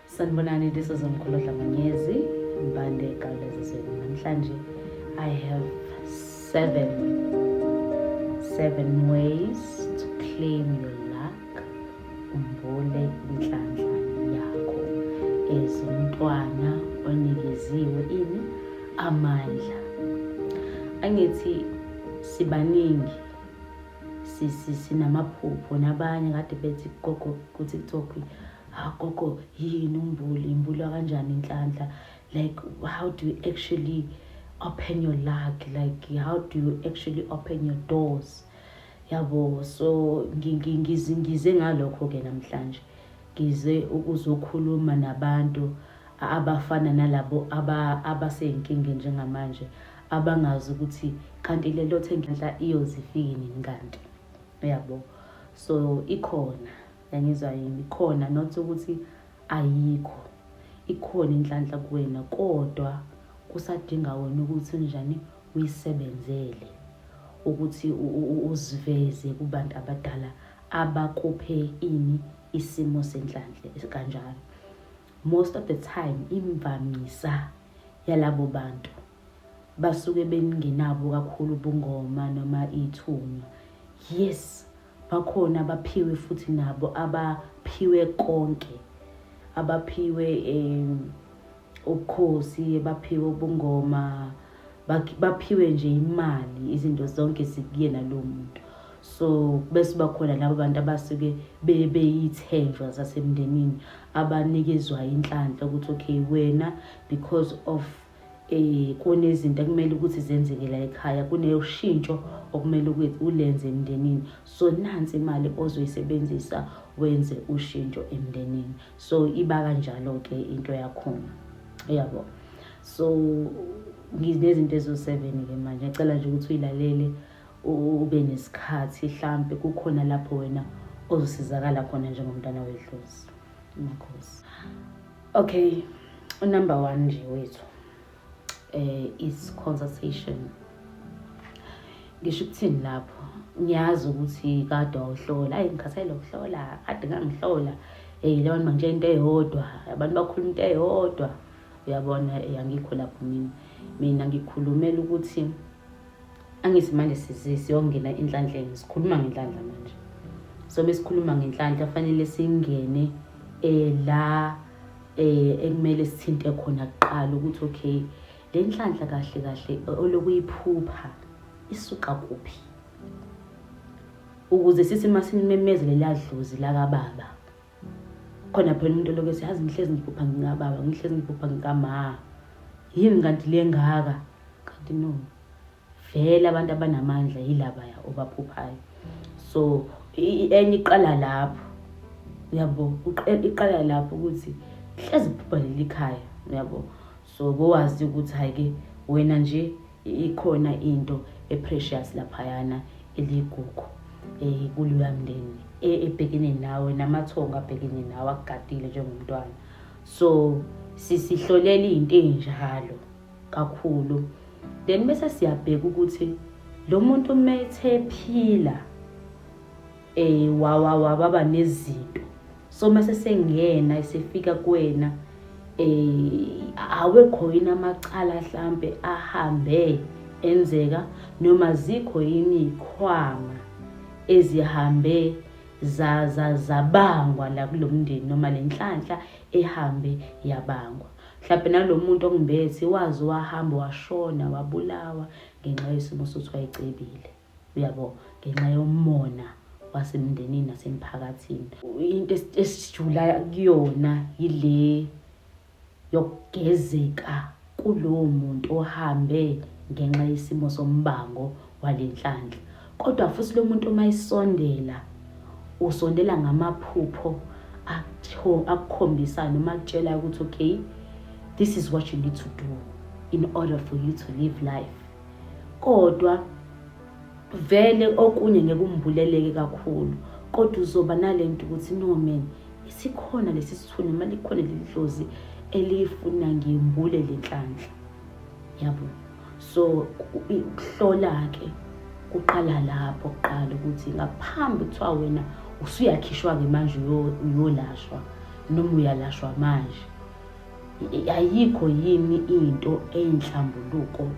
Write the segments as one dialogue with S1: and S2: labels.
S1: sanibonani this is mkhulu dlamanyezi mbande egalezizweni namhlanje i have seven seven ways to claim your luck umbule inhlanhla yakho as umntwana onikeziwe ini amandla angithi sibaningi sinamaphupho nabanye kade bethi gogo kuthi kuthiwa ha ah, gogo yini umbuli imbulwa kanjani inhlanhla like how do you actually open your luck like how do you actually open your doors yabo so ngize ngalokho-ke namhlanje ngize ukuzokhuluma nabantu abafana nalabo aba abaseyinkingeni njengamanje abangazi ukuthi kanti le lothe ngenhla iyozifiki nini kanti uyabo so ikhona yangizwa yini khona not ukuthi ayikho ikhona inhlanhla kuwena kodwa kusadinga wena ukuthi unjani uyisebenzele ukuthi uziveze kubantu abadala abakuphe ini isimo senhlanhla kanjalo Most of the time imvamisa yalabo bantu basuke bengenabo kakhulu ubungoma noma ithunywa yes bakhona abaphiwe futhi nabo abaphiwe konke abaphiwe um ubukhosi abaphiwe ubungoma baphiwe nje imali izinto zonke zikuyena lo muntu so bese bakhona labo bantu abasuke beyithenjwa zasemndenini abanikezwa inhlanhla ukuthi okay wena because of eh kunezinto ekumele ukuthi zenzeke la ekhaya kuneushintsho okumele ukuthi ulenze emndenini so nansi imali ozoyisebenzisa wenze ushintsho emndenini so iba kanjalo ke into yakhona uyabo yeah, so nginezinto ezo-seven ke manje ngiyacela nje ukuthi uyilalele ube nesikhathi hlampe kukhona lapho wena ozosizakala khona njengomntana wedlozi makhosi okay unumber one nje wethu eh is consultation ngisho ukuthini lapho ngiyazi ukuthi kade wawuhlola ayi ngikhathele ukuhlola kade ngangihlola eyi leyo nto nje into eyodwa abantu bakhuluma into eyodwa uyabona eh, angikho lapho mina mina ngikhulumela ukuthi angithi manje siyongena enhlanhleni sikhuluma ngenhlanhla manje so besikhuluma ngenhlanhla fanele singene eh la eh ekumele sithinte khona kuqala ukuthi okay le nhlanhla kahle kahle olokuyiphupha isuka kuphi ukuze sithi masimemezele ladlozi lakababa khona phela umuntu olokese yazi ngihlezi ngiphupha ngikababa ngihlezi ngiphupha ngikama yini kanti le ngaka kanti no vele abantu abanamandla yilabaya obaphuphayo so enye iqala lapho uyabo iqala lapho ukuthi hlezi kuphupha leli khaya uyabo so kowazi ukuthi hayi ke wena nje ikhona into eprecious laphayana eligugu eh kuliwa mndeni e, ebhekene nawe namathongo abhekene nawe akugadile njengomntwana so sisihlolela into enjalo kakhulu then bese siyabheka ukuthi lo muntu uma ethe phila Eh wawa wababa nezinto. So mase sengena esefika kuwena eh awekho yini amacala mhlambe ahambe enzeka noma zikho yini ikhwama ezihambe za za zabangwa la kulomndeni noma lenhlanhla ehambe yabangwa mhlawumbe nalomuntu ongibethi wazi wahamba washona wabulawa ngenxa yesimo sokuthi wayecebile uyabo ngenxa yomona wasemndenini nasemphakathini into esijula kuyona yile yokugezeka kulowo muntu ohambe ngenxa yesimo sombango walenhlanhla kodwa futhi lo muntu uma isondela usondela ngamaphupho akukhombisa noma akutshela ukuthi okay this is what you need to do in order for you to live life kodwa vele okunye ngeke umbuleleke kakhulu kodwa uzoba nale nto ukuthi no man isikhona lesi sithunzi uma likhona leli dlozi eliyifuna ngimbule le nhlanhla yabo so ukuhlola-ke kuqala lapho kuqala ukuthi ngaphambi kuthiwa wena usuyakhishwa-ke manje uyolashwa noma uyalashwa manje Ayikho yini into eyinhlambuluko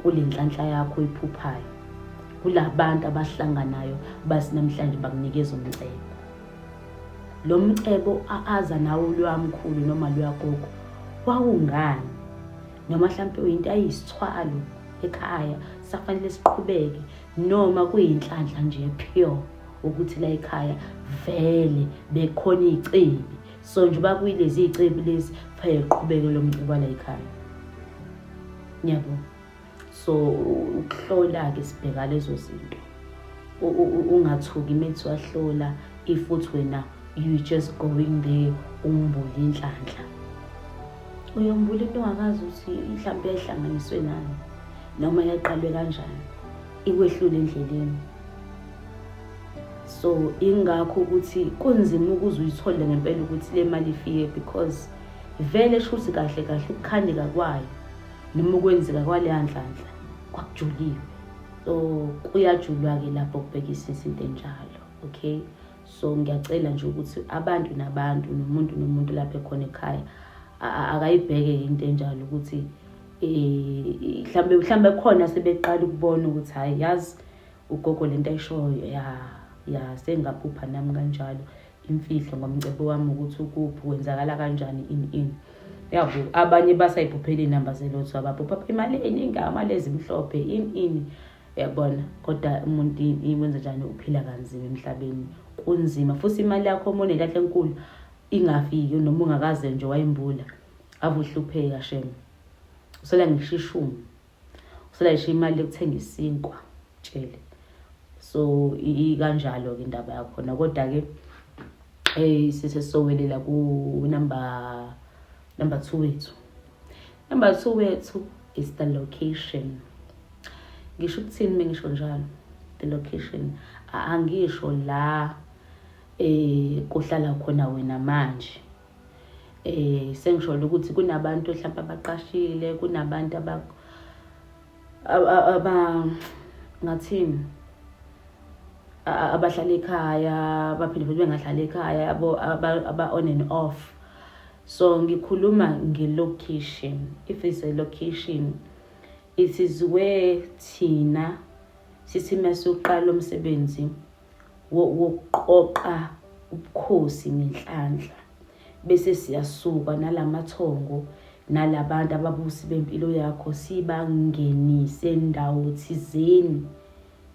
S1: kule nhlanhla yakho iphuphayo? Kula bantu abahlanganayo bathi namhlanje bakunikeza umcebo. Lo mcebo aza nawo lwamkhulu noma lwagogo wawungani? Noma mhlawumpe uyinto ayisithwalo ekhaya safanele siqhubeke noma kuyinhlanhla nje pure ukuthi la ekhaya vele bekhona izicebi so nje uba kuyilezi iy'cebi lezi kufanele liqhubeke lo mcebo alayikhaya ngiyabo so ukuhlola-ke sibheka lezo zinto ungathuki methi wahlola if uthi wena you just going there umbule inhlanhla uyombula into ongakazi ukuthi mhlawumbe yayihlanganiswe nani noma yaqalwe kanjani ikwehlule endleleni so ingakho ukuthi kunzima ukuze uyithole ngempela ukuthi le mali ifike because vele shuthi kahle kahle ukukhandeka kwayo noma ukwenzeka kwaleya nhlanhla kwakujuliwe so kuyajulwa-ke lapho kubhekisisa into enjalo okay so ngiyacela nje ukuthi abantu nabantu nomuntu nomuntu lapho ekhona ekhaya akayibheke into enjalo ukuthi um mhlawumbe mhlawumbe khona sebeqala ukubona ukuthi hhayi yazi Ugogo lento ayishoyo ya ya sengaphupha nami kanjalo imfihlo ngomcebo wami ukuthi ukuphi kwenzakala kanjani in in yabo abanye basayiphuphela inamba zelotho abaphupha imali eningi amali ezimhlophe in in yabona kodwa umuntu ikwenza njani uphila kanzima emhlabeni kunzima futhi imali yakho uma unekahle enkulu ingafiki noma ungakaze nje wayimbula ave uhlupheka shema usela ngishishumi uselayishe imali yokuthenga isinkwa tshele so ikanjalo ke indaba yakhona kodwa ke eh sisesowelela ku number number 2 wethu number 2 wethu is the location ngisho ukuthini mengisho njalo the location angisho la eh kuhlala khona wena manje eh sengisholo ukuthi kunabantu mhlawumbe abaqashile kunabantu aba aba ngathini abahlala ekhaya baphinde futhi bengahlala ekhaya abo aba on and off so ngikhuluma ngelocation if it's a location it is where thina sisime soqala umsebenzi wokuqoqa ubukhosi ngenhlanhla bese siyasuka nalamathongo nalabantu ababusi bempilo yakho sibangenise ndawo thizeni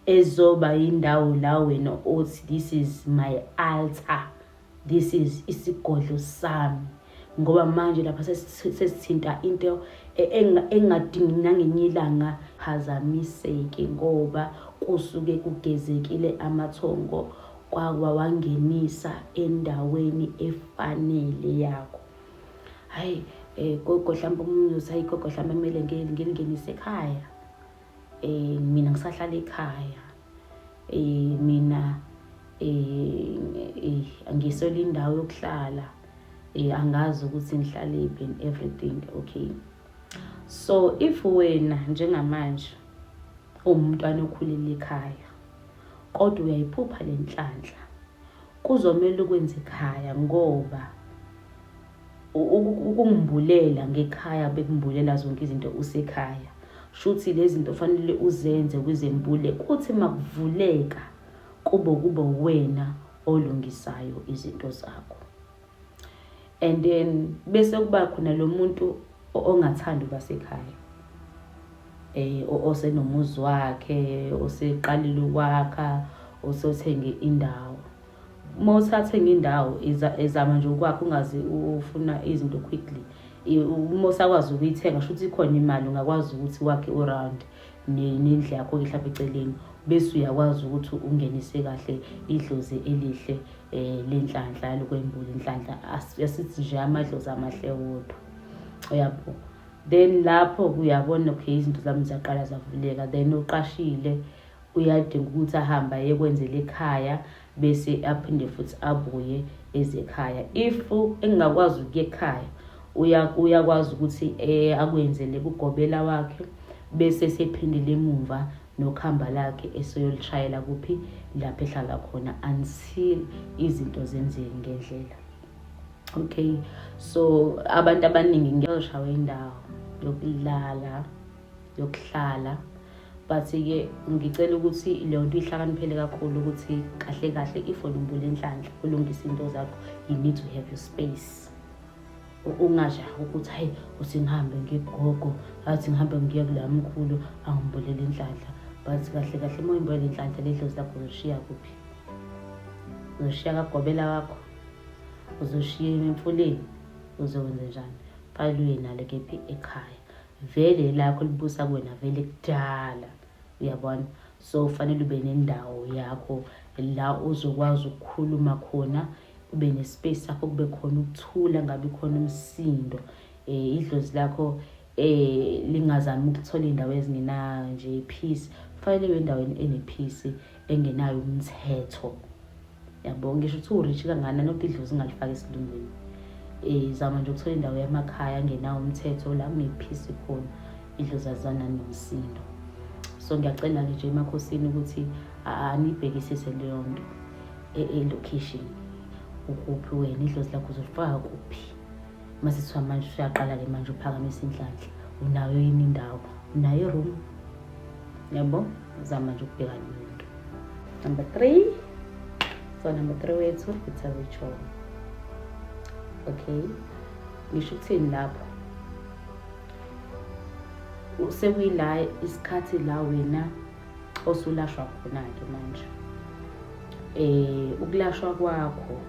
S1: ezoba indawo la wena othi this is my altar this is isigodlo sami ngoba manje lapha sesithinta into e-, engadingi nangenye ilanga phazamiseke ngoba kusuke kugezekile amathongo kwawawangenisa endaweni efanele yakho hhayi um eh, gogo mhlawumbe omunye uthi hayi gogo mhlawumbe kumele ngilingenise ekhaya um mina ngisahlala ekhaya eh mina eh, eh angisole indawo yokuhlala eh angazi ukuthi ngihlaliphi and everything okay so if wena njengamanje umntwana okhulile ekhaya kodwa uyayiphupha lenhlanhla kuzomela ukwenza ekhaya ngoba ukumbulela ngekhaya bekumbulela zonke izinto usekhaya shuthi lezi zinto fanele uzenze kwizembule kuthi makuvuleka kube kube wena olungisayo izinto zakho and then bese kuba khona lo muntu ongathandi uba sekhaya eh osenomuzi wakhe oseqalile ukwakha osothenge indawo uma usathenga indawo ezama nje ukwakho ungazi ufuna izinto quickly uma usakwazi ukuyithenga sho ukuthi ikhona imali ungakwazi ukuthi wakhe uround nendle yakho ke mhlawumbe eceleni bese uyakwazi ukuthi ungenise kahle idlozi elihle um lenhlanhla yalokwembula inhlanhla asithi nje amadlozi amahle wodwa uyabo then lapho uyabona okay izinto zami ziyaqala zavuleka then uqashile Uyadinga ukuthi ahambe ayekwenzela ekhaya bese aphinde futhi abuye eze ekhaya. If engingakwazi ukuya ekhaya uyakwazi ukuthi eh, akwenzele kugobela wakhe bese sephindile emumva nokuhamba lakhe eseyolishayela kuphi lapho ehlala khona until izinto zenzeke ngendlela okay so abantu abaningi ngiyoshawa indawo yokulala yokuhlala but-ke ngicela ukuthi leyo nto ihlakaniphele kakhulu ukuthi kahle kahle if wena umbule enhlanhla ulungise into zakho you need to have your space ungajaha ukuthi hayi uthi ngihambe ngigogo athi ngihambe ngiye kula mkhulu angimbulele inhlanhla but kahle kahle uma uyimbulele inhlanhla ledlozi lakho uzoshiya kuphi uzoshiya kagobela wakho uzoshiya emfuleni uzokwenze njani fanele uye nalo kephi ekhaya vele elakho libusa kuwena vele kudala uyabona so fanele ube nendawo yakho la uzokwazi ukukhuluma khona ube nespace sakho kube khona ukuthula ngabe khona umsindo eh idlozi lakho eh lingazami ukuthola indawo ezingenayo nje peace kufanele ibe endaweni enepeace engenayo umthetho yabo ngisho ukuthi urishi kangana nokuthi idlozi ngalifaka esilungwini um zama nje ukuthola indawo yamakhaya angenawo umthetho la ngiphisi khona idlozi azana nomsindo so ngiyacela-ke nje emakhosini ukuthi anibhekisise leyo nto e-location ukuphi wena idlozi lakho uzolifaka kuphi masithiwa manje usuyaqala-ke manje uphakamisa inhlanhla unayo yini indawo unayo iroom yabo zama nje ukubheka nomuntu number three so number three wethu it's a ritual okay ngisho ukuthini lapho sekuyila isikhathi la wena osulashwa khona-ke manje um ukulashwa kwakho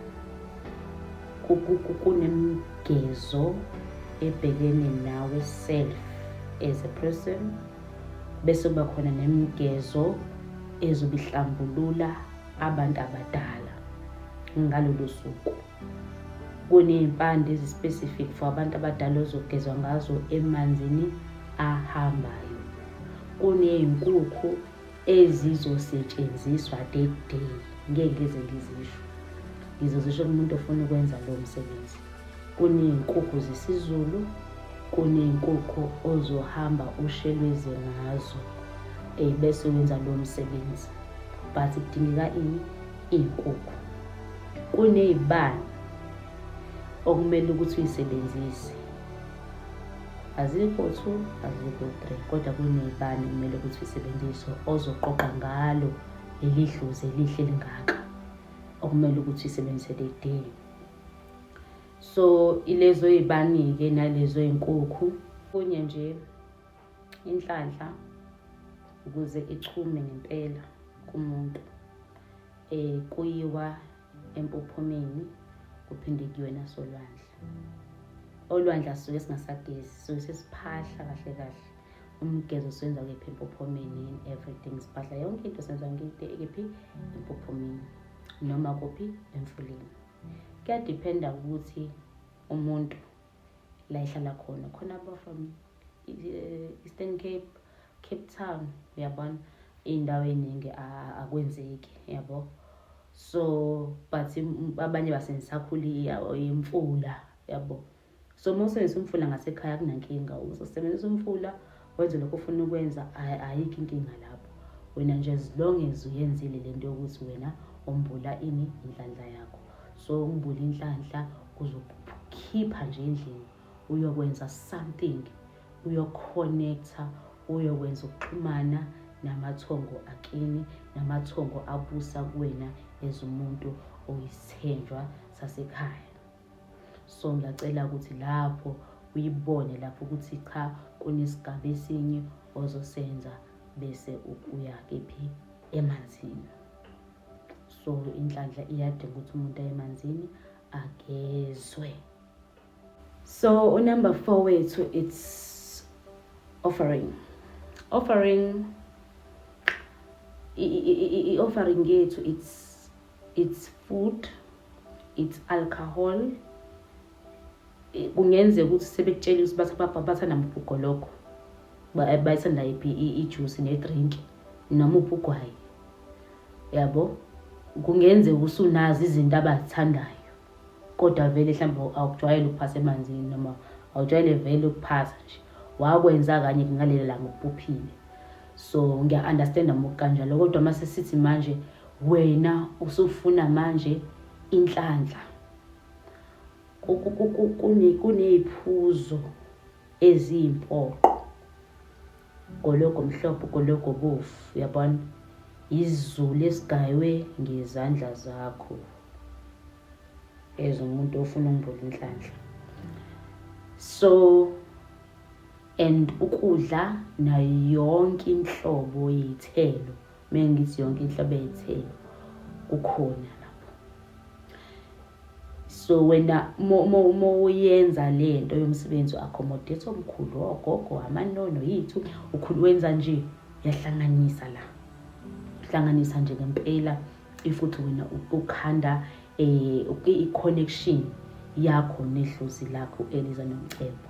S1: kunemgezo ebhekene nawe self as a person bese kuba khona nemgezo ezobihlambulula abantu abadala ngalolu suku kuney'mpande ezi-specific for abantu abadala ozogezwa ngazo emanzini ahambayo kuney'nkukhu ezizosetshenziswa that day ngeke ngize ngizisho ngizozisho kumuntu ofuna ukwenza lowo msebenzi kuney'nkukhu zesizulu kuney'nkukhu ozohamba ushelweze ngazo um bese wenza lowo msebenzi but kudingeka ini iy'nkukhu kuney'bani okumele ukuthi uyisebenzise azikho two azikho three kodwa kunebani kumele ukuthi isebenziswe ozoqoqa ngalo leli dlozi elihle lingaka okumele ukuthi isebenzise le day so ilezo ey'bani-ke nalezo ey'nkukhu kunye nje inhlanhla ukuze ichume ngempela kumuntu um kuyiwa empophomeni kuphinde kuyiwe nasolwandle olwandle asisuke singasagezi sisuke sesiphahla kahle kahle umgezo senza kephi empophomeni and everything siphahla yonke into senza ngide kephi empophomeni noma kuphi emfuleni kuyadiphenda ukuthi umuntu la ihlala khona khona ba from eh, eastern cape cape town uyabona iy'ndawo ey'ningi akwenzeki yabo so but abanye basengisakhuli imfula yabo so uma usebenzisa umfula ngasekhaya kunankinga uzosebenzisa umfula wenze lokho ofuna ukwenza ayikho inkinga lapho wena nje as long as uyenzile le nto yokuthi wena umbula ini inhlanhla yakho so umbula inhlanhla uzokhipha nje endlini uyokwenza something uyoconnecta uyokwenza ukuxhumana namathongo akini namathongo abusa kuwena as umuntu oyisithenjwa sasekhaya so ngiyacela ukuthi lapho uyibone lapho ukuthi cha kunesigaba esinye ozosenza bese uya kephi emanzini so inhlanhla iyadinga ukuthi umuntu aye emanzini agezwe so unumber four wethu it's offering offering i-offering yethu it's it's food it's alcohol eh, kungenzeka ukuthi sebekutshela ukuthi bathi bathanda muphi ugologo eh, bayithanda iphi ijuice nedrink noma uphi ugwayi yabo kungenzeka usunazi izinto abazithandayo kodwa vele mhlawumbe awukujwayele ukuphasa emanzini noma awujwayele vele ukuphasa nje wakwenza kanye kungaleli langa ubuphile so ngiya-understanda mukanjalo kodwa uma sesithi manje wena usufuna manje inhlanhla kuney'phuzo eziyimpoqo Gologo mhlophe gologo bovu uyabona izulu esigaywe ngezandla zakho as umuntu ofuna umbula inhlanhla so and ukudla nayo yonke inhlobo yeyithelo Mina ngithi yonke inhlobo ey'thelo kukhona lapho. So wena uma uyenza le nto yomsebenzi u-accommodate omkhulu ogogo amanono yithu ukhulu wenza nje uyahlanganisa la uhlanganisa nje ngempela if uthi wena ukhanda um i-connection yakho nedlozi lakho eliza nomcebo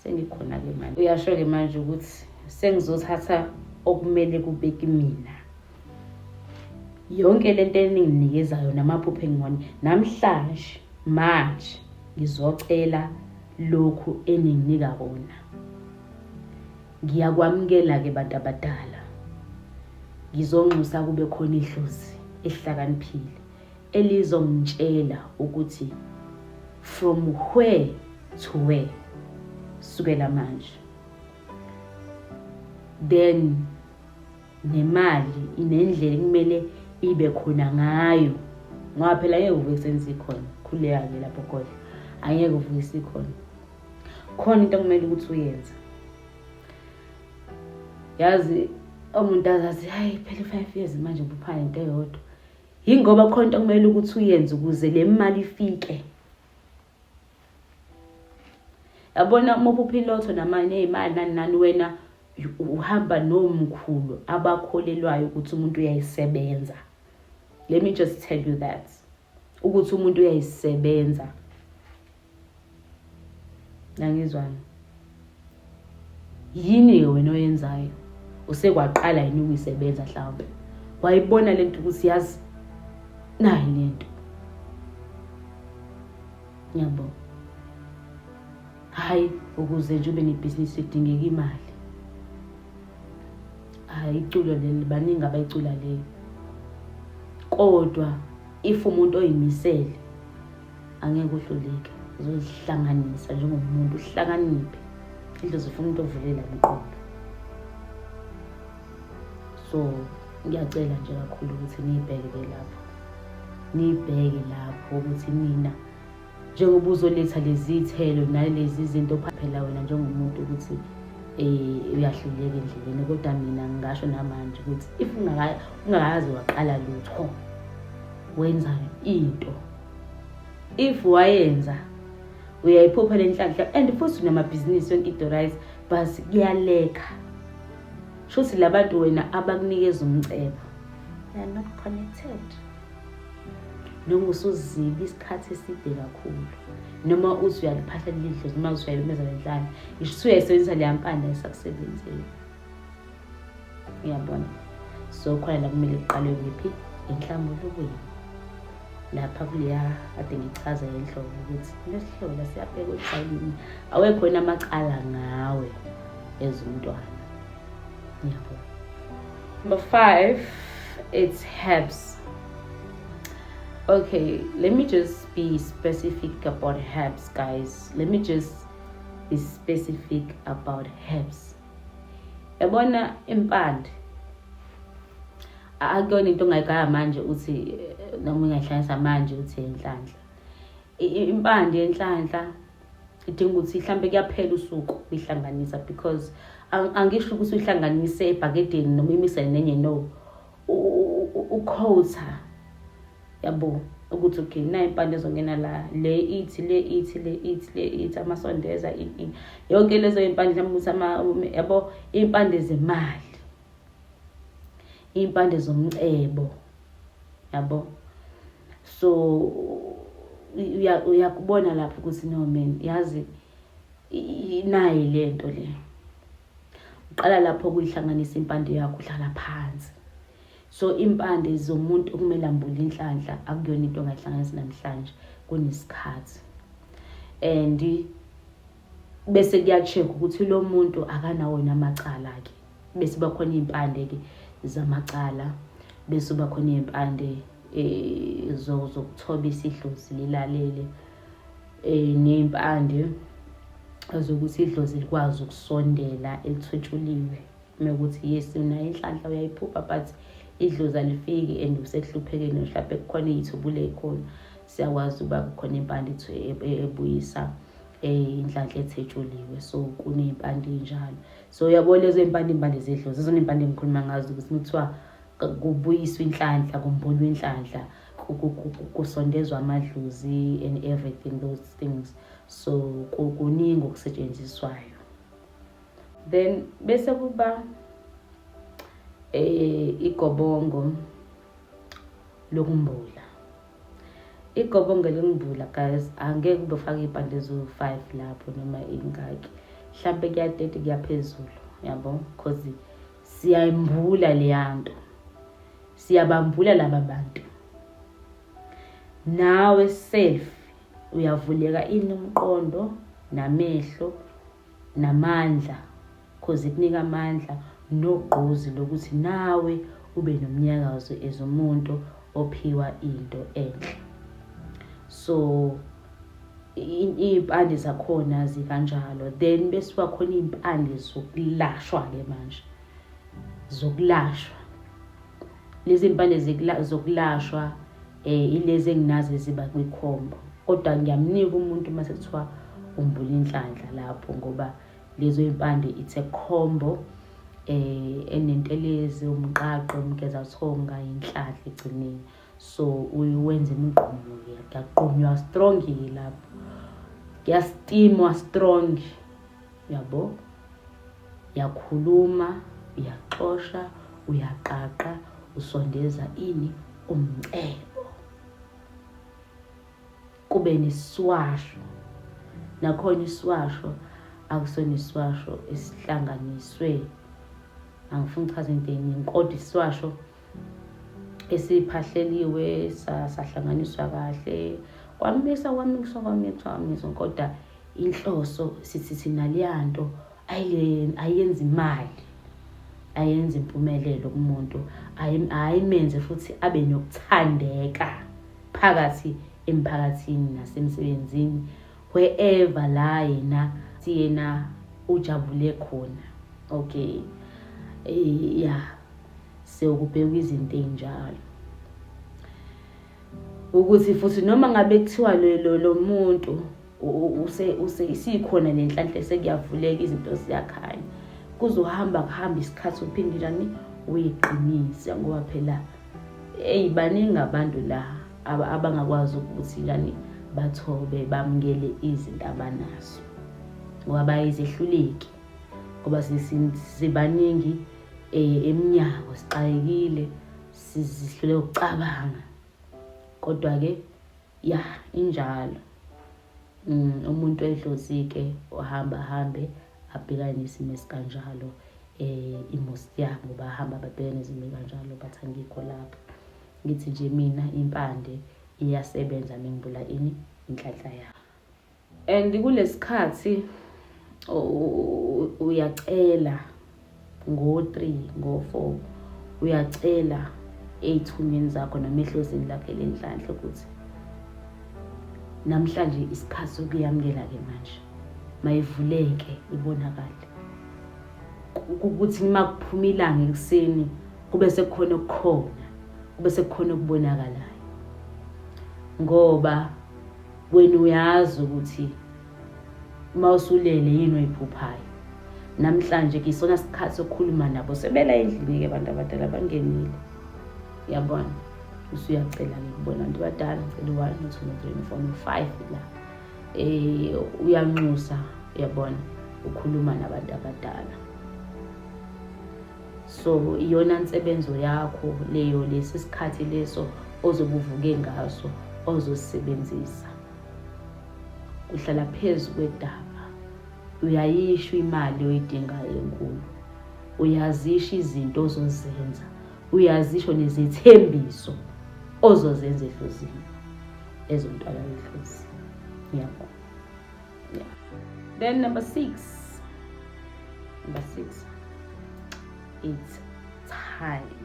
S1: sengikhona-ke manje uyasho-ke manje ukuthi sengizothatha okumele kube kimina yonke le nto eninginikeza yona amaphupho engibone namhlanje manje ngizocela lokhu eninginika kona ngiyakwamukela-ke bantu abadala ngizonxusa kube khona idlozi ehlakaniphile elizongitshela ukuthi from where to where sukela manje then nemali inendlela kumele ibe khona ngayo ngoba phela ngeke uvuke senze ikhona khuleka-ke lapho kodwa angeke uvuke isikhona khona into okumele ukuthi uyenze yazi omuntu azathi hayi phela i-five years manje buphana into eyodwa yingoba khona into okumele ukuthi uyenze ukuze le mali ifike yabona uma uphupha ilotho namanye ey'mali nani nani wena uhamba nomkhulu abakholelwayo ukuthi umuntu uyayisebenza let me just tell you that ukuthi umuntu uyayisebenza nangizwana yini-ke wena oyenzayo usekwaqala yini ukuyisebenza mhlawumbe wayibona le nto ukuthi yazi nayi le nto ngiyabo hhayi ukuze nje ube nebhizinisi edingeka imali hhayi iculo leli baningi abayicula leyo kodwa if umuntu oyimisele angeke uhluleke uzozihlanganisa njengomuntu uhlakaniphe indlu zifuna umuntu ovulela mqondo so ngiyacela nje kakhulu ukuthi niyibheke ke lapho niyibheke lapho ukuthi mina njengoba uzoletha lezi thelo nalezi zinto phaphela wena njengomuntu ukuthi um uyahluleka endleleni kodwa mina ngingasho namanje ukuthi if ungakaze waqala lutho wenza into if wayenza uyayiphupha lenhlanhla and futhi unamabhizinisi yonke into right but kuyaleka shuthi labantu wena abakunikeza umcebo they are not connected noma usuzibi isikhathi eside kakhulu noma uthi uyaliphahla lilidlozi noma uthi uyayimeza lenhlane ngisho uthi uyayisebenzisa leya mpanda esakusebenzeli uyabona so khona la kumele kuqalwe kuphi enhlambulukweni lapha kuleya ade ngichaza enhloko ukuthi lesihlobo lasiyabheka odlalini awekho yena amacala ngawe as umntwana yabo number five it's herbs okay let me just be specific about herbs guys let me just be specific about herbs yabona impande akuyona into ongayigaya manje uthi noma ungayihlanganisa manje uthi yenhlanhla impande yenhlanhla idinga ukuthi mhlampe kuyaphela usuku uyihlanganisa because angisho ukuthi uyihlanganise ebhakedeni noma imise nenye no ukhotha yabo ukuthi okay nayo impande ezongena la le ithi le ithi le ithi le ithi amasondeza yonke lezo iy'mpande mhlawumbe ukuthi ama yabo iy'mpande zemali iy'mpande zomcebo yabo so uyakubona lapho ukuthi no man yazi inayi le nto le uqala lapho kuyihlanganisa impande yakho uhlala phansi so impande zomuntu okumele ambule inhlanhla akuyona into ongayihlanganisa namhlanje kunesikhathi and bese kuyacheck ukuthi lo muntu akanawo yena amacala ke bese bakhona impande ke zamacala bese bakhona impande eh zokuthoba isidlozi lilalele um ney'mpande zokuthi idlozi likwazi ukusondela elithutshuliwe mekuthi yes unayo inhlanhla uyayiphupha but idlozi alifiki and usekuhluphekeni mhlawumbe kukhona iy'thubule khona siyakwazi ukuba kukhona impande e, e, ebuyisa eh, inhlanhla ethetshuliwe so kuney'mpande ey'njalo so uyabo lezo y'mpande iy'mpande zedlozi zizona iy'mpande engikhuluma ngazo ukuthi kuthiwa kubuyiswa inhlanhla kumbulwa inhlanhla kusondezwa amadlozi and everything those things so kuningi okusetshenziswayo then bese kuba eh igobongo lokumbula igobongo lokumbula guys angeke ube ufake ipande eziwu-5 lapho noma ingaki mhlampe kuya-30 kuyaphezulu yabo because siyaymbula leyanto siyabambula laba bantu nawe self uyavuleka ini umqondo namehlo namandla cause ikunika amandla nogqozi lokuthi nawe ube nomnyakazo as umuntu ophiwa into enhle so iy'mpande zakhona zikanjalo then bese kuba khona iy'mpande zokulashwa-ke manje zokulashwa lezi mpande zokulashwa um ilezi enginazi eziba kwikhombo kodwa ngiyamnika umuntu uma sekuthiwa umbula inhlanhla lapho ngoba lezo y'mpande it's a combo um enentelezi umqaqo umgezathonga inhlanhla egcineni so wenza imigqumo ke kuyagqunywa strong ke lapho kuyastimwa strong yabo yakhuluma uyaxosha uyaqaqa usondeza ini umcebo kube neswasho nakhona iswasho akusona iswasho esihlanganiswe angifuni ukuchaza into eningi kodwa iswasho esiphahleliwe sahlanganiswa kahle kwamisa kwamisa kwamisa kwamisa kodwa inhloso sithi thina leya nto ayenzi imali ayenza impumelelo kumuntu ayimenze futhi abe nokuthandeka phakathi emphakathini nasemsebenzini wherever la yena siyena ujabule khona okay eh, ya sewukubheka izinto ezinjalo ukuthi futhi noma ngabe kuthiwa lo lo muntu use use isikhona nenhlanhla sekuyavuleka izinto ziyakhanya kuzohamba kuhamba isikhathi uphindilani uyiqinise ngoba phela eyi baningi abantu la abangakwazi ukuthi yani bathobe bamukele izinto abanazo ngoba bayizehluleki ngoba sibaningi um emnyango sixakekile sizihlule ukucabanga kodwa-ke ya injalo um umuntu edlozi-ke uhamba hambe abhekane nesimo esikanjalo eh imosti yabo bahamba babhekane nezimo kanjalo bathi angikho lapho ngithi nje mina impande iyasebenza mengibula ini inhlanhla yabo and kulesikhathi uyacela ngo-3 ngo-4 uyacela ey'thunyweni zakho noma ehlozini lakho elenhlanhla ukuthi namhlanje isikhathi sokuyamukela-ke manje mayivuleke ibonakale ukuthi uma kuphuma ilanga ekuseni kube sekukhona okukhona kube sekukhona okubonakalayo ngoba wena uyazi ukuthi Uma usulele yini oyiphuphayo? Namhlanje ke isona sikhathi sokukhuluma nabo sebela endlini ke abantu abadala bangenile. Yabona usuyacela ke kubona abantu abadala ngicela one two three four five la. Eh uyanxusa yabona ukhuluma nabantu abadala. So iyona nsebenzo yakho leyo lesi sikhathi leso ozobuvuke ngaso ozosebenzisa. uhlala phezu kwedaba uyayisho imali oyidingayo enkulu uyazisho izinto ozozenza uyazisho nezethembiso ozozenza ehlozini ezontwala ehlozi ngiyabona yeah. then number six number six it's time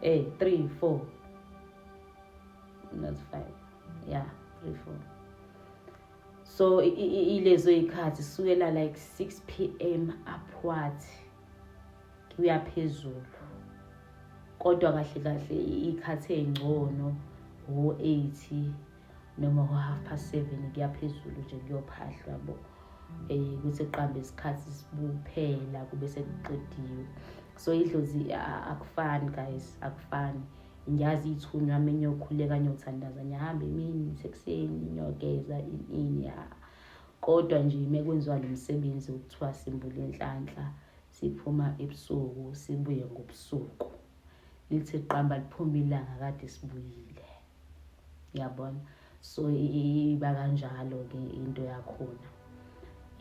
S1: Hey, eh, three, four. Not five. Yeah, three, four. So ilezo ikhathi sukela like 6 pm upward kuya phezulu. Kodwa kahle kahle ikhathi engcono ho 80 noma ngo-half past seven kuyaphezulu nje kuyophahlwa bo um kuthi kuqambe isikhathi sibuphela kube sekuqediwe so idlozi akufani guys akufani ngiyazi ithunywa ame ngiyokhuleka ngiyothandaza ngiyahamba emini sekuseni ngiyogeza ini ya kodwa nje mekwenziwa lo msebenzi wokuthiwa simbula inhlanhla siphuma ebusuku sibuye ngobusuku lithi qamba liphuma ilanga kade sibuyile yabona so iba kanjalo ke into yakhona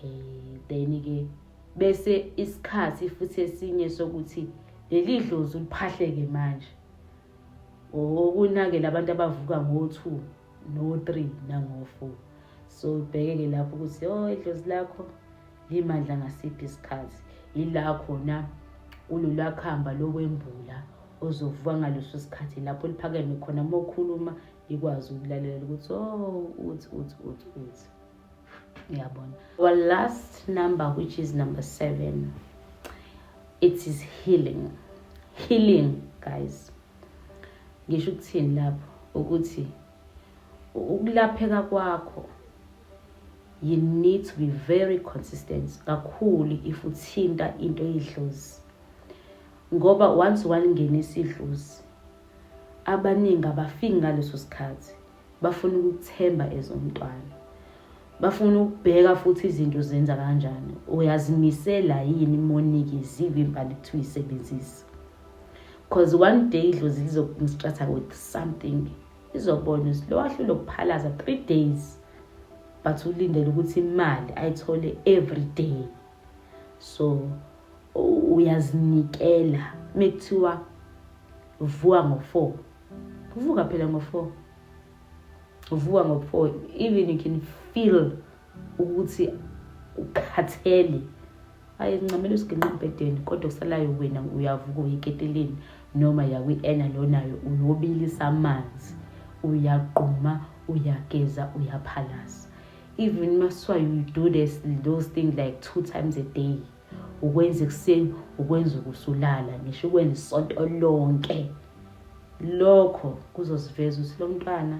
S1: eh then ke bese isikhathi futhi esinye sokuthi leli dlozi uliphahleke manje okunakela abantu abavuka ngo-2 no-3 nango-4 so ubheke-ke lapho ukuthi o oh, idlozi lakho Limandla ngasiphi isikhathi yila khona kululakhamba lokwembula ozovuka ngaleso sikhathi lapho liphakeme khona uma ukhuluma likwazi ukulalela ukuthi o oh, uthi uthi uthi uthi uyabona our last number which is number seven it is healing healing guys ngisho ukuthini lapho ukuthi ukulapheka kwakho you need to be very consistent kakhulu if uthinta into eyidlozi ngoba once walingenisa idlozi abaningi abafiki ngaleso sikhathi bafuna ukuthemba ezomntwana bafuna ukubheka futhi izinto zenza kanjani uyazimisela yini monikezile impani kuthiwa isebenzisa cause one day idlozi lizokumstratha with something izobona lo wahlule ukuphalaza three days but ulindele ukuthi imali ayithole every day so uyazinikela mekuthiwa vuka ngo-four kuvuka phela ngo-four uvuka ngo-four even you can feel ukuthi ukhathele aye ncamela usiginqa embhedeni kodwa kusalayo wena uyavuka uyiketeleni noma yakwi-ena lonayo uyobilisa amanzi uyagquma uyageza uyaphalaza even maswa you do this, those things like two times a day ukwenza ekuseni ukwenza ukusulala ngisho ukwenza isonto lonke lokho kuzosiveza ukuthi lo mntwana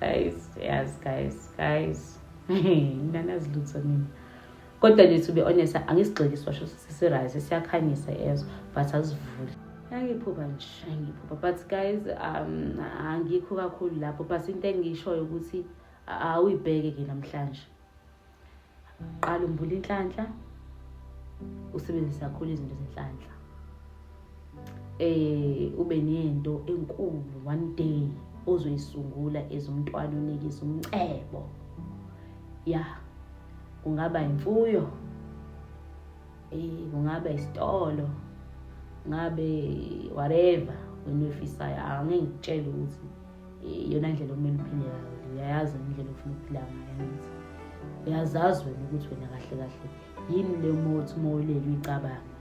S1: guys yes guys guys nganazi lutho mina kodwa nje to be honest angisigxili sibasho sisirise siyakhanyisa ezo but asivuli angiphupha nje angiphupha but guys um angikho kakhulu lapho but into engishoyo ukuthi awuyibheke ke namhlanje qala umbula inhlanhla usebenzise kakhulu izinto zenhlanhla eh ube nento enkulu one day ozoyisungula ezomntwana unikisa umcebo ya kungaba imfuyo eh kungaba isitolo ngabe whatever wena ofisayo angeke ngitshele ukuthi iyona ndlela okumele uphile ngayo uyayazi wena indlela ofuna ukuphila ngayo angithi uyazazi wena ukuthi wena kahle kahle yini le mothi uma ulele uyicabanga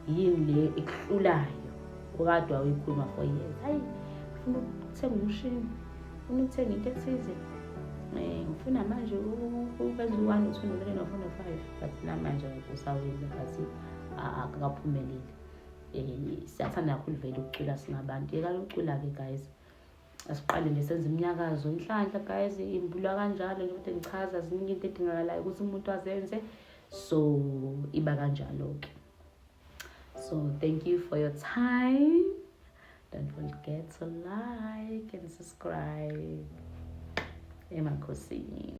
S1: yini le ekuhlulayo okade wawuyikhuluma for years hayi ufuna ukuthenga umshini ufuna ukuthenga into ethize um eh, ngifuna manje ukwenza u-one u-two no-three no-four no-five but namanje usawile but akakaphumeleli um siyathanda kakhulu vele ukucula singabantu yekani ukucula-ke guys asiqale nje senze imnyakazo inhlanhla guys imbulwa kanjalo nje kodwa ngichaza ziningi into edingakalayo ukuthi umuntu azenze so iba kanjalo-ke so thank you for your time don't forget to like and subscribe emakhosini